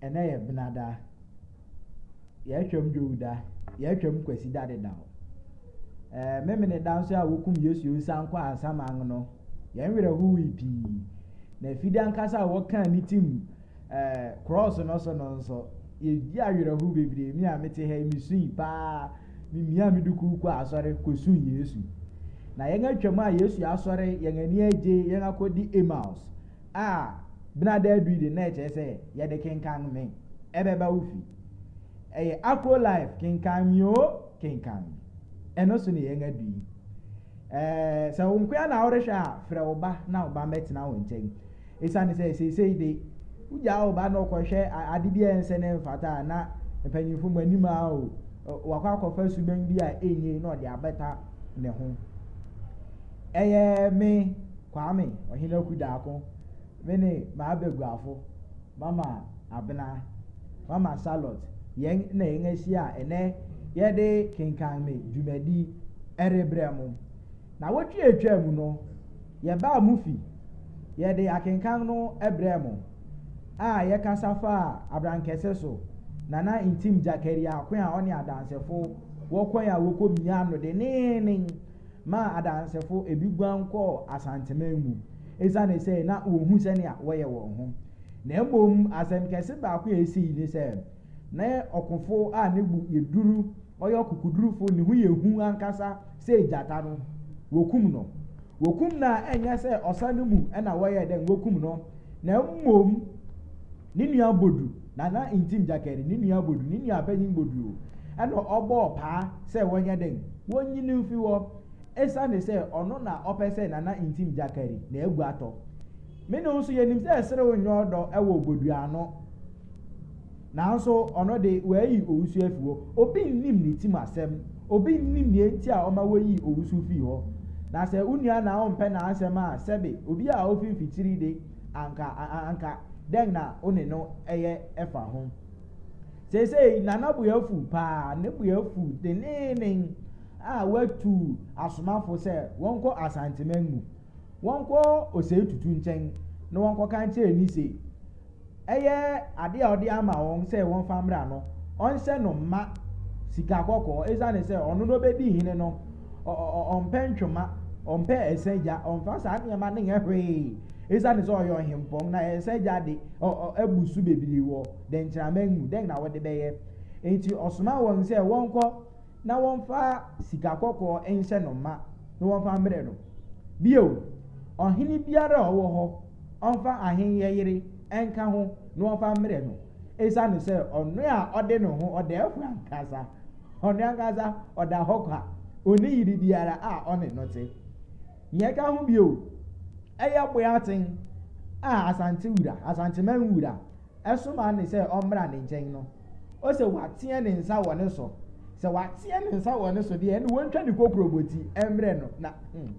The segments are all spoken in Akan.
Ɛnɛ yɛ benada. Yɛtwam Dwowda. Yɛtwam Kwasida dedaw. Ɛɛ memene da nso a wokum Yesu nsan kɔ asaman no. Yɛn werɛ howee pii. Na afide ankasa a wɔkaa ne tim Ɛɛ, krɔɔso no so no nso, yedi awerɛhow bebree. Me a mete ha yi, misui paa. Mimiaa me dukuu kɔɔ asɔre kosuu Yesu. Na yɛn atwam a Yesu asɔre, yɛn ani agye, yɛn akodi Emmaus a Benada adui de, na ɛkyerɛ sɛ yɛde kenkan me, ɛbɛba wo fi. Ɛyɛ Akro Life, kenkan me o, kenkan me. Ɛno so na yɛn adu yi. Ɛɛ, sɛ wo nkoa na worehwɛ a, frɛ wo ba na wo ba mmɛtena wo nkyɛn. Esiane sɛ seesei de, wogyaa wo ba na ɔkɔhwɛ ade bi a ɛnsɛ na ɛmfata a, na mpanyimfo mo anim a o, wakɔ akɔfa suban bi a enye na ɔde abɛta ne ho. Ɛyɛ me, Kwame Ɔhenaku Daako, me ne m'abaguafo, Mama Abena, Mama Charlotte, yɛn na yɛn ahyia a ɛnnɛ yɛde Kenkan Me dwumadi rebrɛ mo. Nnawɔtwe a etwaa mu no, yɛbaa mo fi, yɛde akenkan no brɛɛ mo, a yɛkasa faa abrankɛse so, na na Ntim Jakaria ako a ɔne Adansefo wɔ kwan a wɔkɔ mia no denneennen maa Adansefo ebi guan kɔɔ Asanteman mu esiane sɛ na wɔnhu sɛnea wɔyɛ wɔn ho. Na mmom asɛm kɛse baako a esii ne sɛ, Na yɛ ɔkofo a ne bo yɛ duru, ɔyɛ ɔkokodurufo, ne ho yɛ hu ankasa sɛ gyata no, wokum no. Wokum no a, ɛnyɛ sɛ ɔsa no mu na wɔyɛɛ dɛn wokum no, na mmom ne nua Bodu, Nana Ntim Gyakɛre, ne nua Bodu, ne nua Panyin Bodu, na ɔbɔɔ paa sɛ wɔnyɛ dɛn, wonyi no mfi hɔ, esiane sɛ ɔno na ɔpɛ sɛ Nana Ntim Gyakɛre na agu atɔ. Me ne wo nso, yenim sɛ serew nyɛ ɔdɔ wɔ Bodu ano. Nanso ɔno de, wɔayi owusu afi hɔ. Obi nnim ne tirim asɛm. Obi nnim nea enti a ɔma woyii owusu fii hɔ. Na sɛ wo nua na wompɛ n'asɛm a, sɛbe obi a ofi mfikyiri de, anka, anka dɛn na wo ne no yɛ fa ho? Seesei, na ne bo afuw paa, ne bo afuw denneennen a watu asomafo sɛ wɔnkɔ asanteman mu. wɔnkɔ osei tutu nkyɛn na wɔnkɔka nkyerɛ ni se, ɛyɛ adeɛ a ɔde ama wɔn sɛ wɔmfa mmra no, ɔnhyɛ no mma sika kɔkɔɔ, esiane sɛ ɔno na ɔbɛdi hene no, ɔmpɛ ntwoma, ɔmpɛ ɛsɛ gya, ɔmfa saa nneɛma no nyɛ hwee, esiane sɛ ɔyɛ ɔhempɔn, na ɛsɛ gya de, abu so bebree wɔ dɛnkyɛmma mu, dɛn na wode bɛyɛ? Enti ɔsoma wɔn sɛ wɔnkɔ. na wɔmfa sika kɔkɔɔ nhyɛ no mma na wɔmfa mmrɛ no. Bio, ɔhene biara a ɔwɔ hɔ, ɔmfa ahenkyɛ yere nka ho na wɔmfa mmrɛ no, esiane sɛ ɔno a ɔde ne ho, ɔdɛɛfo ankasa, ɔno ankasa ɔda hɔ kwa, onni yere biara a ɔne no te. Nea ɛka ho bio, ɛyɛ Boaten a Asantewura, Asanteman wura, soma ne sɛ ɔmmra ne nkyɛn no. Ose wateɛ ne nsa wɔ ne so. Sɛ wateɛ ne nsa wɔ ne so deɛ ɛne wɔntwa ne kokuroboti mmerɛ no na hmm,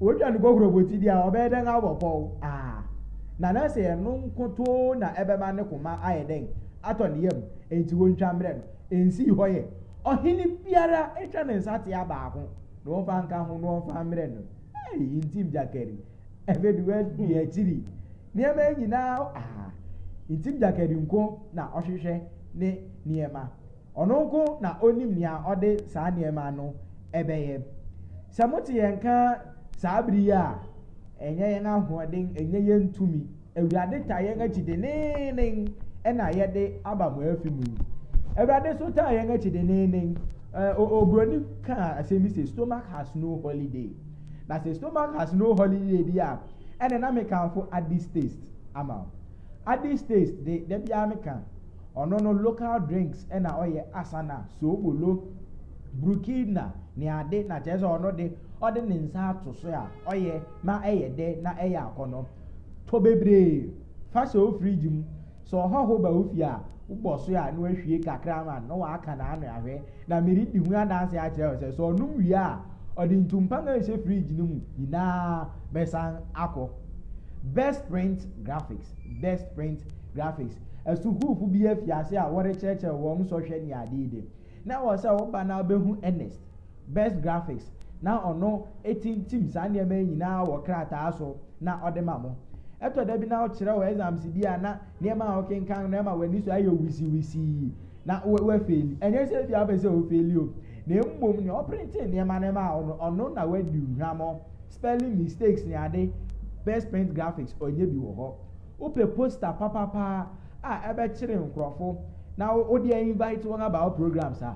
wɔtwa ne kokuroboti deɛ a ɔbɛyɛ dɛn abɔ pɔw aa na na sɛ ɛno nkotoo na ɛbɛma ne koma ayɛ dɛn atɔ ne yam enti wɔntwa mmerɛ no ɛnsii hɔ yɛ ɔhene biara ɛtwa ne nsa tea baako na wɔmfa nka ho na wɔmfa mmerɛ no ɛyi ntim gyakari ɛbɛdu adi akyiri Nneɛma yi nyinaa a ntim dwakari nko na ɔhwehwɛ ne nneɛma. Ɔno nko na onim nea ɔde saa nneɛma no bɛyɛ. Sɛ mote yɛn nka saa bere yi a, ɛnyɛ yɛn ahoɔden, ɛnyɛ yɛn tumi. Awurade taa yɛn akyi denneennen na yɛde aba mo afi mu yi. Awurade nso taa yɛn akyi denneennen. Oburoni kaa asɛm bi sɛ, stomach has no holiday. Na sɛ stomach has no holiday bi a, ɛne na mekamfo Addy's Taste ama wo. Addy's Taste de, da biara meka, ɔno no local drinks na ɔyɛ, Asana, Soobolo, Brukilna, ne ade, na kyerɛ sɛ ɔno de, ɔde ne nsa ato so a, ɔyɛ ma ɛyɛ dɛ na ɛyɛ akɔnnɔ. Tɔ bebree, fa hyɛ wo fridge mu. Sɛ ɔhɔho ba wo fie a, wobɔ so a na wahwie kakra ama no na waka no ano ahwɛ. Na meredi ho adanse akyerɛ wo sɛ, sɛ ɔnom wie a, ɔde ntumpan a ɛhyɛ fridge no mu nyinaa bɛsan akɔ. Best Print Graphics Best Print Graphics Asukuufo bi afi ase a wɔrekyerɛkyerɛ wɔn nsɔhwɛ ne ade yi de, na ɛwɔ sɛ wo ba no ara behu Ernest. Best Graphics, na ɔno tintim saa nneɛma yi nyinaa wɔ krataa so na ɔde ma mo. Ɛtɔ da bi na wokyerɛw exams bi a na nneɛma a wokenkan no ma w'ani so ayɛ wisiwisii na woafeeli. Ɛnyɛ sɛ ebia wopɛ sɛ wofeeli o, na mmom nea ɔprintee nneɛma no maa wo no, ɔno na wadi hwammɔ. Spelling mistakes ne ade, Best Print Graphics ɔnyɛ bi wɔ hɔ. Wopɛ poster papapaa a ɛbɛkyere nkurɔfo na wode ainvite wɔn aba wo programs a,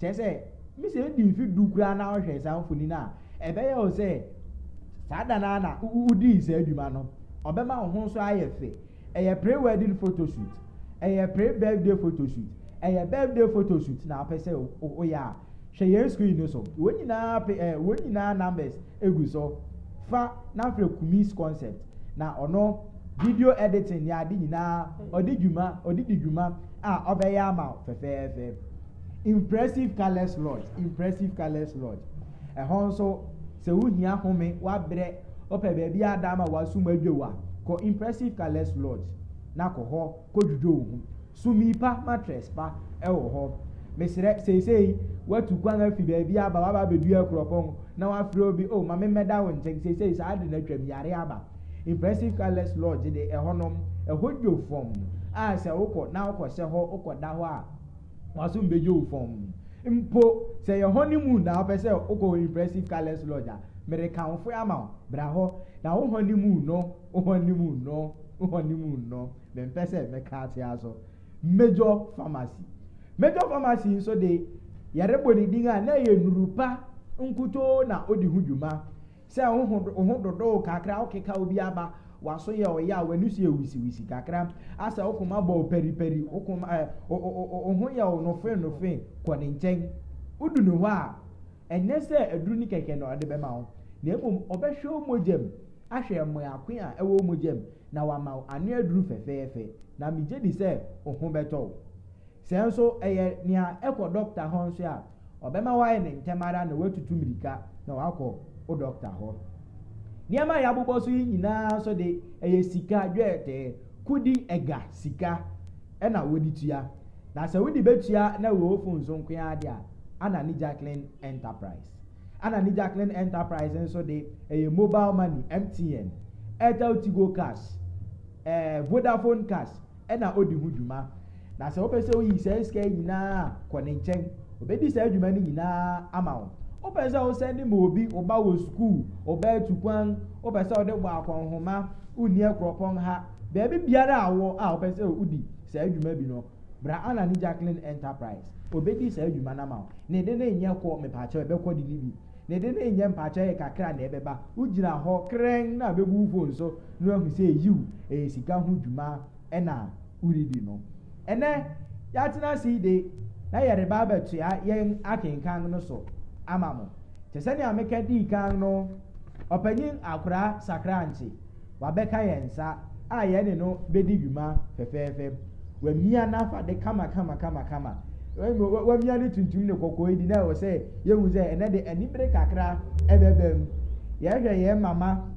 Kyerɛ sɛ, emi sɛ edi mfe du koraa na wohwɛ saa mfoni no a, ɛbɛyɛ wo sɛ saa da no ara na wudii saa dwuma no. Ɔbɛma wo ho nso ayɛ fɛ. Ɛyɛ pre-wedding photoshoot, ɛyɛ pre-birthday photoshoot, ɛyɛ birthday photoshoot na wopɛ sɛ woyɛ a, hwɛ yɛn screen no so. Wɔn nyinaa pe eh, wɔn nyinaa numbers egu so. Fa na frɛ Kumis Concept na ɔno video editing ne ade nyinaa ɔde dwuma, ɔde di dwuma a ɔbɛyɛ ama wo fɛfɛɛfɛ. Impressive Colours Lodge, Impressive Colours Lodge. Ɛhɔ nso, sɛ wohia home, woabrɛ, wopɛ baabi a ada ama w'asom adwo wo a, kɔ Impressive Colours Lodge na kɔ hɔ kɔdwudwo wo ho. Sumii pa, mattress pa wɔ hɔ. Mesrɛ, seesei woatu kwan afi baabi aba, woaba abɛduru Akuropɔn na woafrɛ obi, oh, ma me mmɛda wo nkyɛn, seesei saa ade no atwam, yare aba. Impressive Colours Lodge de, ɛhɔnom, ɛhɔ dwo fɔmm a sɛ wokɔ na wokɔhyɛ hɔ, wokɔda hɔ a, W'aso mbegye wo fɔmm. Mpo sɛ yɛ honeymoon na wopɛ sɛ wokɔ Impressive Colours Lodge a, merekamfoe ama wo. Bra hɔ na wo honeymoon no, wo honeymoon no, wo honeymoon no, mempɛ sɛ mɛka akyea so. Major Pharmacy. Major Pharmacy nso de, yɛrebɔ ne din a, na ɛyɛ nnuru pa nkutoo na odi ho dwuma. Sɛ wo ho wo ho dodow kakra a, wokeka obi aba, w'aso yɛ ɔyɛ a, w'ani so yɛ wisiwisi kakra a, sɛ wo koma bɔ wo paripari, wo koma ɛ, wo, wo, wo, wo ho yɛ wo nofennofe, kɔ ne nkyɛn. Wodu ne hɔ a, ɛnyɛ sɛ aduru no kɛkɛ na ɔde bɛma wo, na mmom ɔbɛhwɛ wo mogya mu ahwɛ mmoa ko a ɛwɔ wo mogya mu, na wama wo ano aduru fɛfɛɛfɛ, na migye di sɛ wo ho bɛtɔ wo. Sɛ nso ɛyɛ nea ɛkɔ dɔkta hɔ nso a, ɔbɛma woayɛ no ntɛm ara na woatutu mmirika na woakɔ wo dɔkta hɔ. Nneɛma a yɛabobɔ so yi nyinaa nso de, ɛyɛ sika, dwetɛ, kodi, ɛga, sika, na wode tua. Na sɛ wode betua na wɔ ofon so nko ara de a, Anna ne Jacqueline Enterprise. Anna ne Jacqueline Enterprise nso de, ɛyɛ mobile money, MTN, Airtel Tigo Cash, eh, Vodafone Cash, na odi ho dwuma. Na sɛ wopɛ sɛ oyi saa sika yi nyinaa a, kɔ ne nkyɛn. Obedi saa dwuma no nyinaa ama wo. Wopɛ sɛ wosɛnde ma obi wo ba wɔ sukuu, wo ba atu kwan, wopɛ sɛ wode bɔ akɔnhoma, wonni akuropɔn ha, baabi biara a wowɔ a wopɛ sɛ wodi saa dwuma bi no, bra Anna ne Jacqueline Enterprise. Obedi saa dwuma no ama wo. Ne de no nyɛ kɔ, mepakyɛw, ɛbɛkɔ de no bi. Ne de no nyɛ mpaakyɛw yɛ kakra na ɛbɛba. Wugyina hɔ kerɛnn na bebu wo fon so na wɔahu sɛ yiw, ɛyɛ sika ho dwuma na woredi no. Ɛnnɛ, yɛatena ase yi de, na yɛreba abɛtoa yɛn akenkan no so ama mo. Te sɛnea meka dii kan no, Ɔpanyin Akora Sakrankye. Wabɛka yɛn nsa a yɛne no bedi dwuma fɛfɛɛfɛ. Wamia n'afade kamakamakamakama. Wamia ne tuntum ne kɔkɔɔ adi na ɛwɔ sɛ yehu sɛ ɛnɛ de anibere kakra ɛbɛba mu. Yɛhwɛ yɛn mama,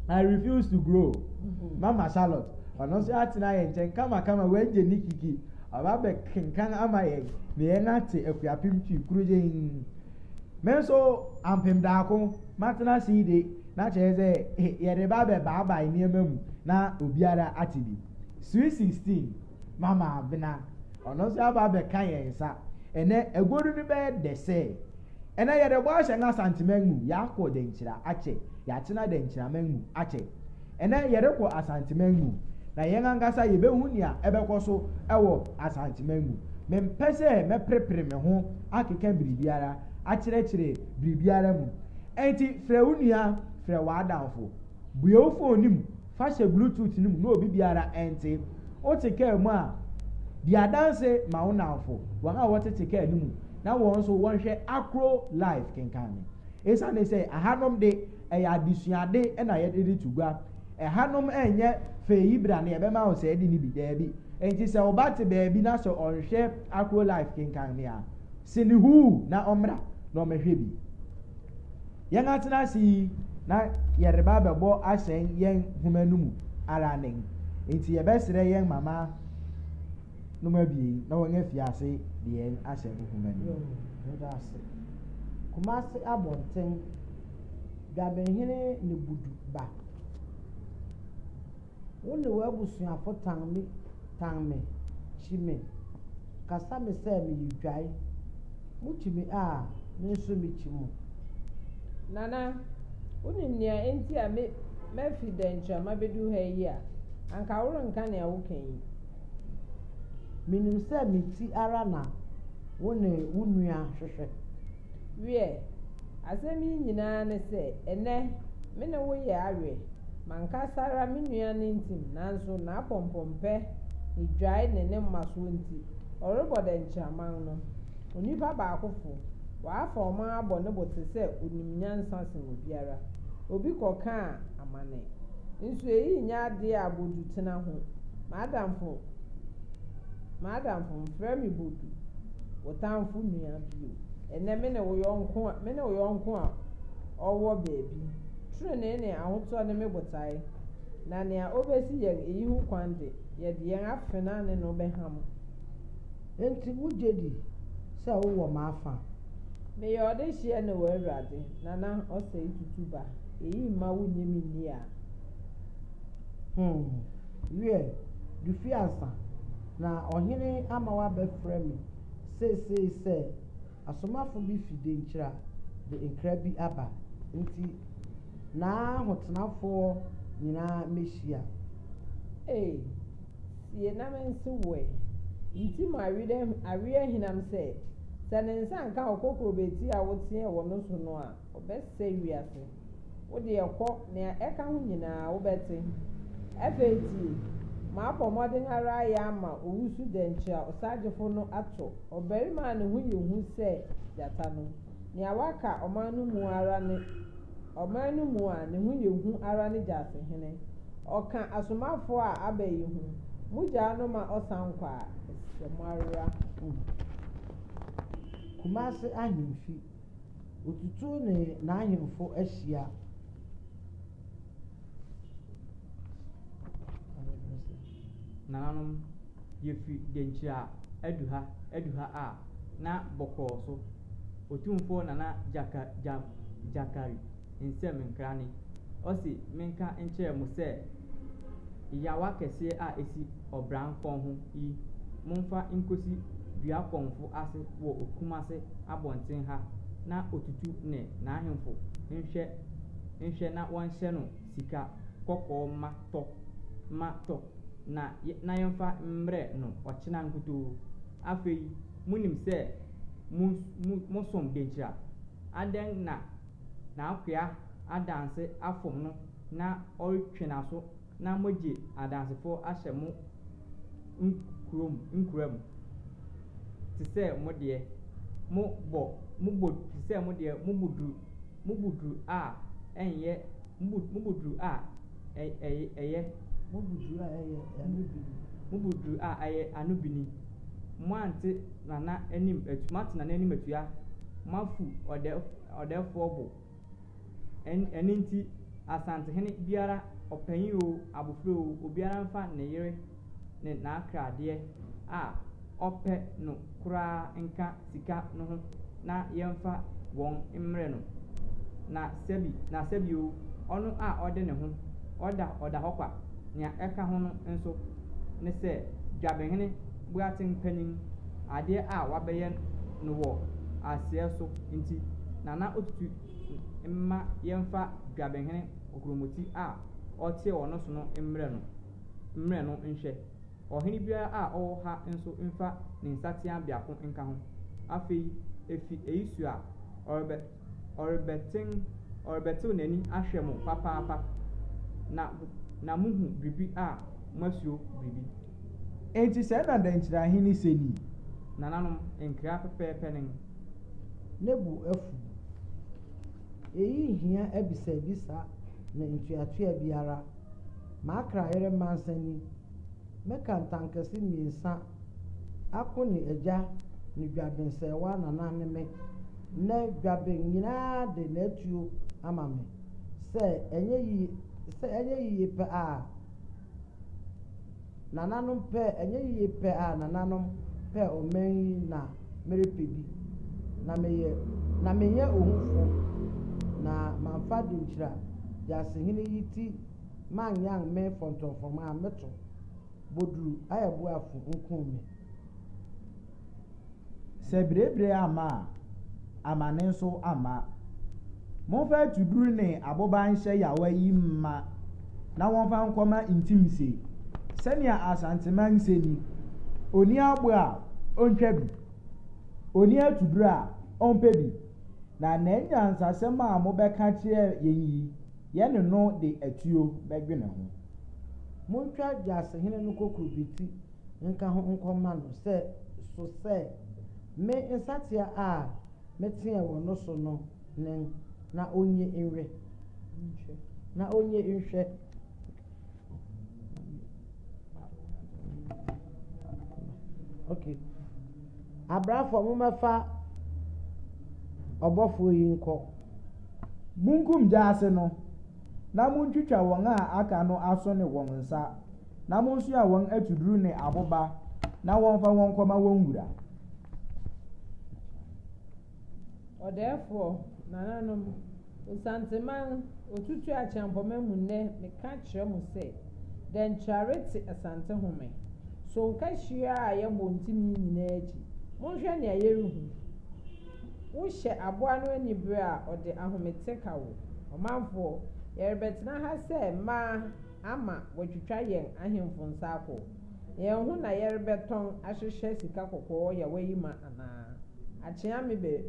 I refuse to grow. Mm-hmm. Mama Charlotte, ɔno nso atena yɛn nkyɛn kamakama, wagye ne kiki. Ɔba bɛkenkan ama yɛn na yɛn ate akuapem twi koro yɛn. Me nso ampem daako matena sii de na kyerɛ sɛ yɛde ba bɛbaabae nneɛma mu na obiara ate bi. Sweet Sixteen, Mama Abena, ɔno nso aba abɛka yɛn nsa. Ɛnnɛ, aguodu no bɛyɛ dɛ sɛɛ. Ɛnnɛ yɛde bɔ ahyɛn Asanteman mu, yɛakɔ Dankyira akyɛ, yɛatena Dankyiraman mu akyɛ. Ɛnnɛ, yɛrekɔ Asanteman mu, na yɛn ankasa yebehu nea ɛbɛkɔ so wɔ Asanteman mu. Mempɛ sɛ mɛperepere me ho akeka biribiara, akyerɛkyerɛ biribiara mu. Enti frɛ wo nua, frɛ w'adamfo. Bue wo fon no mu, fa hyɛ Bluetooth no mu na obi biara nte. Wote kaa mu a, di adanse ma wo nnamfo, wɔn a wɔtete kaa no mu, na wɔn nso wɔnhwɛ Akro Live kenkan no. Esiane sɛ ɛhanom de, Ɛyɛ adesuade na yɛde reto gua. Ɛhanom nyɛ fɛ yi bra na yɛbɛma wo sɛɛde no bi, daabi. Enti sɛ wo ba te baabi na sɛ ɔnhwɛ Akro Life kenkan me a, se no huu na ɔmmra na ɔmmɛhwɛ bi. Yɛn atena ase yi na yɛreba abɛbɔ ahyɛn yɛn nhoma no mu ara nen, enti yɛbɛsrɛ yɛn mama nom abien na wɔn afi ase de yɛn ahyɛ nhoma no mu. Yɛda ase. Kumasi Abɔnten. Dwabehene Nebudu ba. Wo ne w'abusuafo tan me, tan me, kyi me, kasa me sɛ meyɛ dwae. Mukyi me a, me nso mikyi mo. Nana, wunim nea enti a me mafi Dɛnkyɛmma bedu ha yi a? Anka worenka nea woka yi. Minim sɛ me ti ara na wo ne wo nua hwehwɛ. Wiɛ, Asɛm yi nyinaa ne sɛ, ɛnnɛ, me ne wo yɛ awe. M'ankasa ara me nua no ntim, nanso n'apɔmpɔmpɛ, ne dwae ne ne mmasoɔ nti, ɔrebɔ dɛnkyɛmman no. Onipa baakofo, wafa ɔman abɔ ne bo te sɛ ɔnim nyansa sen obiara. Obi kɔkaa amane. Nso eyi nyɛ adeɛ a Bodu tena ho. M'adamfo, m'adamfo, mfrɛ me Bodu, wo tamfo nua bio. Ɛnnɛ me ne wo yɔnko a, me ne wo yɔnko a ɔwɔ baabi. Trenee ne ahotɔ ne me botae, na nea obesi yɛn eyi ho kwan de, yɛde yɛn afenaa ne no bɛham. Enti wugye di sɛ wowɔ m'afã? Meyɛ ɔdehyeɛ ne w'Awurade, na na ɔsɛe tutu ba. Eyi mma wunnye me nni a? Home, wiɛ, Dufiansa, na ɔhene ama woabɛfrɛ me. Seesei sɛ asomafo bi fi Denkyira de nkra bi aba nti n'ahotenafoɔ nyinaa mmɛhyia. Ei, sie na me nse wo ɛ. Nti mo aweɛ aweɛ ahinam sɛ, sɛ ne nsa nka okokrobeti a woteɛ wɔ no so no a, ɔbɛsɛe wiase. Wo deɛ kɔ, nea ɛka ho nyinaa wobɛte. Afei tie, Mabɔ mmɔden ara ayɛ ama owusu dɛnkyɛ a ɔsagyefo no ato ɔbarima a ne ho yɛ hu sɛ gyata no. Nea waka ɔman no mu ara ne ɔman no mu a ne ho yɛ hu ara ne gyatehene. Ɔka asomafo a aba yi ho, Mugyaa no ma ɔsan kɔ a, ɛsɛ sɛ moawera. Kumasi Ahemfi. Otutu ne n'ahemfo ahyia. Nananom, yɛfiri Denkyira adu ha, adu ha a, na bɔkɔɔ so. Otumfoɔ Nana Gyaka, Gya, Gyakari. nsɛm nkrane. Ɔse menka nkyerɛ mo sɛ yawa kɛseɛ a ɛsi ɔbran kɔn ho yi monfa nkosi dua kɔnfo ase wɔ Kumase abɔnten ha na Otutu ne n'ahemfo nhwɛ nhwɛ na wɔnhyɛ no sika kɔkɔɔ ma tɔ ma tɔ na na yɛmfa mmrɛ no ɔkyena nkutoo. Afei monim sɛ mo mosom denkyira? Adɛn na n'akoa adanse afom no na ɔretwe n'aso na moagye adansefo ahyɛ mo nkurom nkuram te sɛ mo deɛ, mo bɔ mo bɔ te sɛ mo deɛ, mo bo duru mo bo duru a ɛnyɛ mo bo mo bo duru a ɛ ɛ ɛyɛ, mo bo duru a ɛyɛ ano bini, mo bo duru a ɛyɛ ano bini. moante Nana anim atu, moate Nana anim atua, moafu ɔdɛ, ɔdɛfoɔ bo. Ɛn, ɛno nti, Asantehene biara, ɔpanyin oo, abofra oo, obiara mfa ne yere ne n'akradeɛ a ɔpɛ no koraa nka sika no ho na yɛmfa wɔn mmrɛ no, na sɛbi na sɛbi oo, ɔno a ɔde ne ho ɔda ɔda hɔ kwa, nea ɛka ho no nso ne sɛ Dwabehene Boateng panyin, adeɛ a wabɛyɛ no wɔ aseɛ so nti, Nana Otutu mma yɛmfa Dwabehene Kokromoti a ɔteɛ wɔ no so no mmrɛ no mmrɛ no nhwɛ. Ɔhene biara a ɔwɔ ha nso mfa ne nsateaa biako nka ho. Afei, efi eyi su a, ɔrebɛ, ɔrebɛten, ɔrebɛtew n'ani ahwɛ mo papaapa, na, na muhu biribi a moasuro biribi. Enti sɛɛ na Dankyira Ahene se ni. Nananom, nkra pɛpɛɛpɛ nen. Ne bo afuw. Eyi nhia abisabisa ne ntoatoa biara. M'akra yere Mansani Mɛka ntankɛse mmiɛnsa ako ne agya ne dwaben sɛ wo anana ne me. Nnɛ dwaben nyinaa de n'atuo ama me. Sɛ ɛnyɛ yiye sɛ ɛnyɛ yiye pɛ a nananom pɛ ɛnyɛ yiye pɛ a nananom pɛ ɔman yi na merepɛ bi. Na meyɛ na menyɛ ohufo na mamfa denkyira gyaasehene yi ti man yan me fɔntɔnfɔrma a meto boduru ayɛ bo afu nkum me. Sɛ birebire amma a, amane nso amma. Momfa atuduru ne aboba nhyɛ yawa yi mma na wɔmfa nkɔma ntim se, sɛnea Asanteman se ni, Onni abo a, ontwa bi, onni atuduru a, ompɛ bi. Na n'anyansasɛm a mobɛka akyerɛ yɛn yi, Yɛne no de atuo bɛdwene ho. Montwa dwasehene no kokurobeti nka ho nkɔma no sɛ so sɛ me nsatea a meteɛɛ wɔ no so no nen, na onnye nwe, na onnye nhwɛ. Okay. Abrafo, mommɛfa ɔbɔfoɔ yi nkɔ. Monkum gyaase no, na montwitwa wɔn a aka no aso ne wɔn nsa, na monsoa wɔn atuduru ne aboba, na wɔmfa wɔn nkɔma wɔn wura. Ɔdɛɛfoɔ, nananom, Osanteman, Otutu Acheampoma mu nnɛ meka kyerɛ mo sɛ, Dɛnkyerare te Asante home, sonka hyiaa a yɛbɔ ntini nyinaa akyi, monhwɛ nea yɛrehu. Wohyɛ aboa no anibere a ɔde ahomete ka wo. Ɔmanfoɔ, yɛrebɛtena ha sɛ mmaa. ama wɔatwitwa yɛn ahemfo nsa akɔ yɛn ho na yɛrebɛtɔn ahyehyɛ sika kɔkɔɔ yawa yi ma anaa? Akyea me bɛ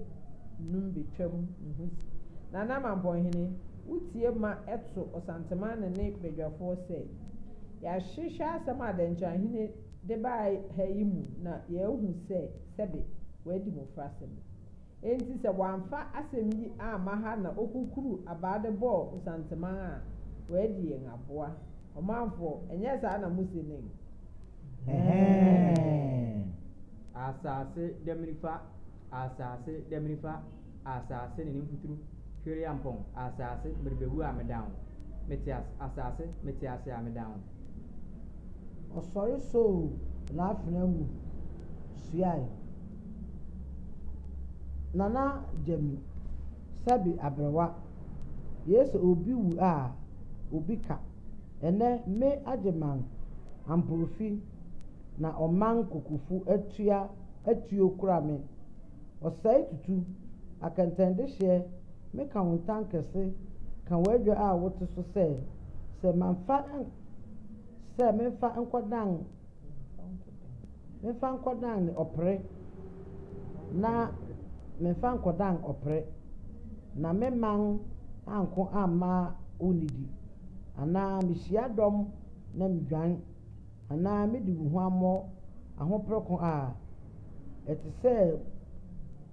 num betwam ne ho si. Nana Mampɔnhene, wo tie ma ɛto Ɔsantema ne ne badwafoɔ sɛ, Yɛahwehwɛ asɛm a Dɛnkyɛrahene de baa ha yi mu na yɛahu sɛ sɛbe wadi mmofrasɛm. Enti sɛ wɔamfa asɛm yi amma ha na okukuru abaa de bɔɔ Osanteman a, wɔadi yɛn aboa. Ɔmanfoɔ, ɛnyɛ saa na mose nen? Ɛhɛɛɛɛɛɛɛɛɛɛɛɛɛɛɛɛ! Asaase damiri fa, asaase damiri fa, asaase ne ne mfuturu, Twereampɔn, asaase, merebewu a medan wo, mete ase, asaase, mete ase a medan wo. Ɔsɔre soo n'afena mu suae. Nana Gyami, sɛbe aberewa, yei sɛ obi wu a, obi ka. Ɛnnɛ, me Agyeman Amporfi na ɔman Kokofu atua atuo kura me. Ɔsɛe tutu, akɛntɛndehyeɛ, me ka wo ntankɛse, ka w'adwa a wote so sɛ, sɛ mamfa, sɛ memfa nkɔdan. Memfa nkɔdan ɔpere, na memfa nkɔdan ɔpere, na me man anko amma wo nidi. Anaa mihyia dɔm na midwan, anaa midi huammɔ ahopere ko a ɛte sɛ.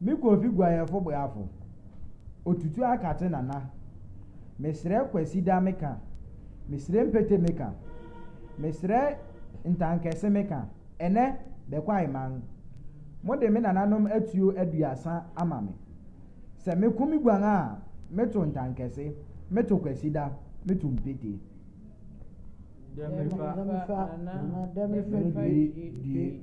Me Kofi guayɛfo boafo, Otutu akate nana, Mesrɛ Kwasida me ka, Mesrɛ Mpete me ka, Mesrɛ Ntankɛse me ka, Ɛnɛ, The Kwaiman, Mode me nananom atuo aduasa ama me. Sɛ meko me guan a, meto Ntankɛse, meto Kwasida, meto Mpete. Dɛ me fa, Nana, dɛ me fa due, due.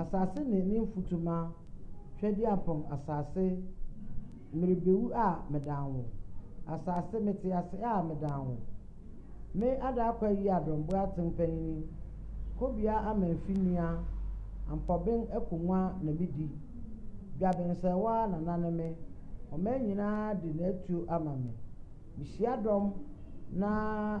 Asase ne ne mfutuma hwɛdeɛ apɔm Asase, merebewu a medan wo Asase, mete ase a medan wo Me Adaa Kwayi Adomboe Atempanyini Kobia Amanfi Nua Ampɔben Akonnwa na medi Dwabensɛewa Nana ne me Ɔman nyinaa de n'atuo ama me Mehyia dɔm na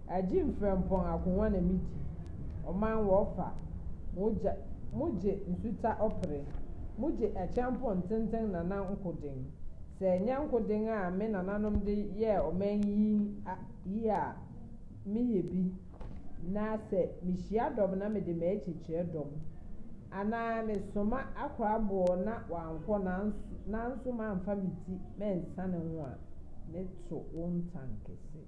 Agye mfrɛmpɔn akongua na midi. Ɔman wɔfa, mogya, mogye nsuta ɔpere, mogye akyɛmpɔn ntenten nana nkoden. Sɛ ɛnyɛ nkoden a me nananom de yɛɛ ɔman yi yi a, meyɛ bi, na sɛ mehyia dɔm na mede m'akyi kyerɛ dɔm, anaa mesoma akora boɔ na wankɔ nanso nanso mamfa me ti mansiane ho a, meto wo ntankese.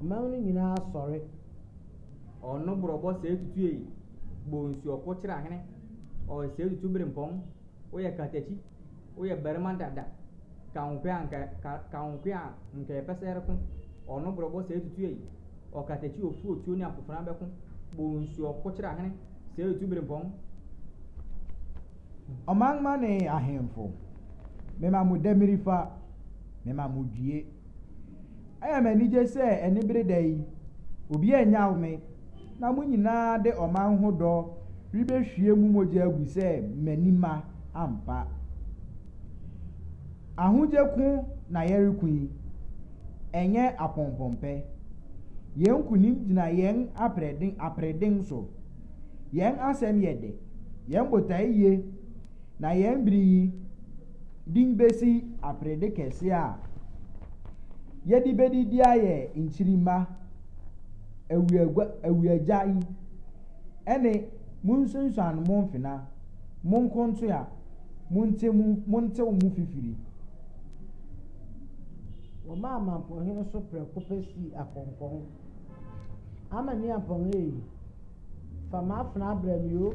Ɔman no nyinaa sɔre. Ɔno borɔbɔ sɛɛ tutu ei, bɔ nsuo ɔko kyerɛ ahene, ɔɔ sɛɛ tutu berempɔn, woyɛ katakyi, woyɛ barima dada, ka wo koe anka, ka, ka wo koe a nka yɛpɛ sɛ yɛreko, ɔno borɔbɔ sɛɛ tutu ei, ɔkatakyi ofu otuo ne akofena bɛko, bɔ nsuo ɔko kyerɛ ahene, sɛɛ tutu berempɔn. Ɔman ma ne ahemfo, mema mo damirifa, mema mo due. Ɛyɛ me anigye sɛ anibere da yi, obiara nnyaw me, na mo nyinaa de ɔman ho dɔ rebehwie mo mogya agu sɛ m'ani mma ampa. Ahodye ko na yɛreko yi, ɛnyɛ apɔmpɔmpɛ. Yɛn nkonim gyina yɛn aprɛden aprɛden so. Yɛn asɛm yɛ dɛ, yɛn botae ye, na yɛn bere yi, de besi aperede kɛse a yɛde bedi de ayɛ nkyirimma awiagua awiagya yi ɛne monsunsuan mo mfena monkontoa monte mu montew mo fifiri. Wɔmaa Amanpɔnhene so prɛko pɛ sii akɔnkɔn. Amaniampɔnhene ei, fa m'afena brɛ me o,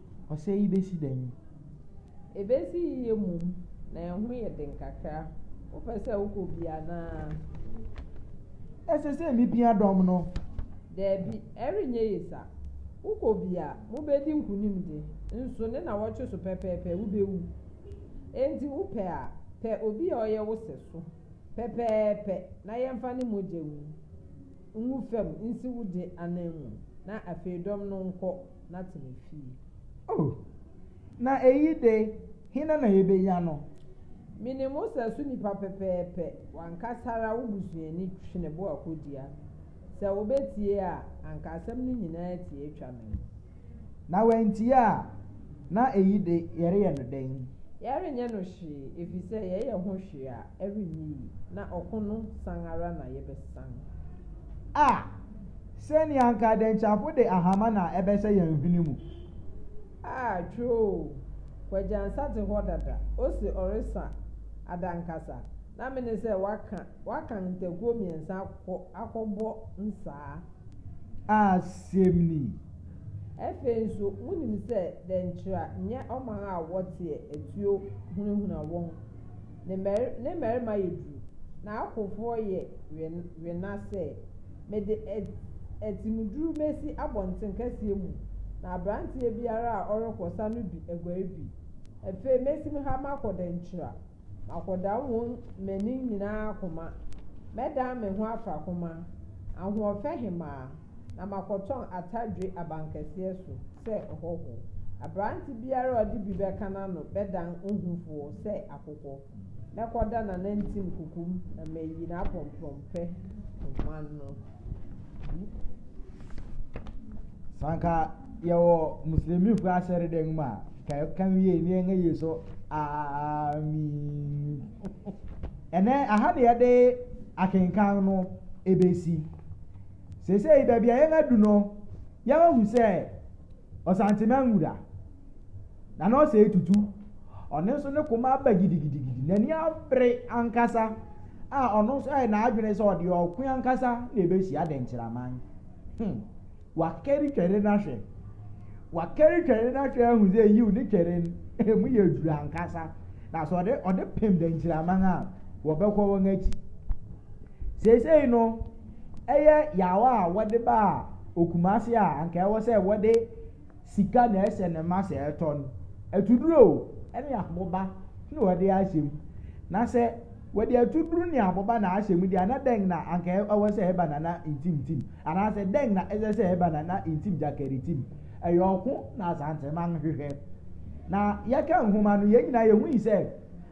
Ɔsɛe yi besi dɛn? Ebesi yiye mmom, na ɛho yɛ den kakra. Wopɛ sɛ wokɔ bi anaa? Ɛsɛ sɛ mipia dɔm no? Dabi, ɛrenyɛ ye sa. Wokɔ bi a, mubedi nkonim de, nso ne nnawɔtwe so pɛpɛɛpɛ wubewu. Enti wopɛ a, pɛ obi a ɔyɛ wo sɛso pɛpɛɛpɛ na yɛmfa ne mogya ngu fam nsi wo de ananmu, na afei dɔm no nkɔ. na tena fie. O, na eyi de, hena na yebenya no? Me ne mo sɛ so nipa pɛpɛɛpɛ, w'ankasa ara wo busuani twe ne bo akodua. Sɛ obetie a, anka asɛm no nyinaa tie atwa me ho. Na wantie a, na eyi de, yɛreyɛ no dɛn? Yɛrenyɛ no hwee, efisɛ yɛyɛ ho hwee a, ɛrenyɛ yie. Na ɔko no san ara na yɛbɛsan. A, sɛnea anka dɛnkyɛmfo de ahama na ɛbɛhyɛ yɛn hwene mu. A, twerɛ oo, Kwagyansa te hɔ dada, ose ɔresa adankasa, na mene sɛ waka, wakan ntakuo mmiɛnsa akɔ, akɔbɔ nsaa. A, sɛm ni. Ɛfei nso, monim sɛ dɛnkyɛa nyɛ ɔman a wɔteɛ atuo hunahuna wɔn. Ne mari ne mmarima yɛ duru, n'akofoɔ yɛ we wena sɛ, Mede at atimuduru mɛsi abɔnten kɛseɛ mu, na aberanteɛ biara a ɔrekɔ sa no bi aguare bi. Afei mɛsim ha makɔ dankyira, makɔdam wo mmanin nyinaa akoma, mɛdan me ho afrakoma, ahoɔfɛ hemaa. na makɔtɔn atadwe abankɛseɛ so sɛ ɔhɔhoɔ. Aberante biara a ɔde bi bɛka n'ano bɛdan ohufoɔ sɛ akokɔ. Mɛkɔda n'anantin kokom na mayi n'aprɔmprɔmpɛ poma no gu. Sɛ anka yɛwɔ muslimifo asɔredan mu a, ka ɛka wiei ne yɛn ayi so amin. Ɛnɛ aha ne yɛde akenkan no ebesi. Seesei baabi a yɛadu no, yɛahu sɛ ɔsantemma nwura, na na ɔsɛ etutu. Ɔno nso ne koma aba gidigidigidi, n'ani abere ankasa a ɔno nso ayɛ n'adwene sɛ ɔde ɔko ankasa na ebehyia adenkyiraman. Hmm, wakari twɛre no ahwɛ. Wakari twɛre no ahwɛ ahu sɛ yiw ne twɛre no, emu yɛ duru ankasa. Na sɛ ɔde ɔde pem denkyiraman a, wɔbɛkɔ wɔn akyi. Seesei no, ɛyɛ yaw a wɔde baa Okumase a anka ɛwɔ sɛ wɔde sika na ɛhyɛ no ma sɛ ɛtɔ no. Atuduro ne aboba na wɔde ahyɛ mu. Na sɛ wɔde atuduro ne aboba na ahyɛ mu deɛ a, na dɛn na anka ɛwɔ sɛ ɛba na na ntimtim? Anaasɛ dɛn na ɛsɛ sɛ ɛba na na ntim gyakaritim? Ɛyɛ ɔko na Asanteman hwehwɛ. Na yɛka nhoma no, yɛn nyinaa yɛhui sɛ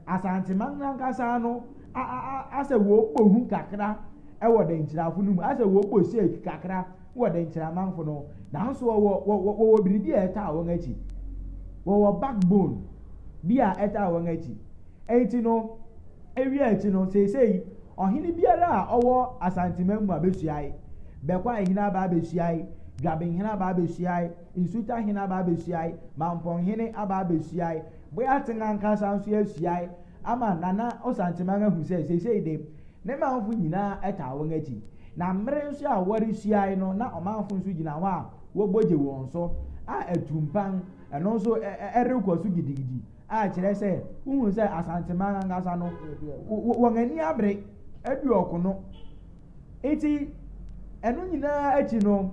Asanteman no ankasa no asɛ wɔbɔ hu kakra wɔ dankyirafo no mu, asɛ wɔbɔ shake kakra wɔ dankyiramanfo no ho. Nanso wɔwɔ wɔwɔ wɔwɔ biribi a ɛtaa wɔn akyi. Wɔwɔ backbone bi a ɛtaa wɔn akyi. Enti no, ewie akyi no, seesei ɔhene biara a ɔwɔ Asanteman mu abehyiae, Bɛkwae hene aba abehyiae, Dwaben hene aba abehyiae, Nsuta hene aba abehyiae, Mampɔn hene aba abehyiae, Boyateng ankasa nso ahyiae, Ama Nana Osantemang ahu sɛ seesei de, ne manfo nyinaa taa wɔn akyi, na mmere nso a wɔresuae no na ɔmanfo nso gyina hɔ a wɔbɔ gye wɔn so, a atumpan, ɛno nso, rekɔ so gidigidi, a kyerɛ sɛ wohu sɛ Asantemang ankasa no, wɔn ani abere adu ɔko no. Enti, ɛno nyinaa akyi no,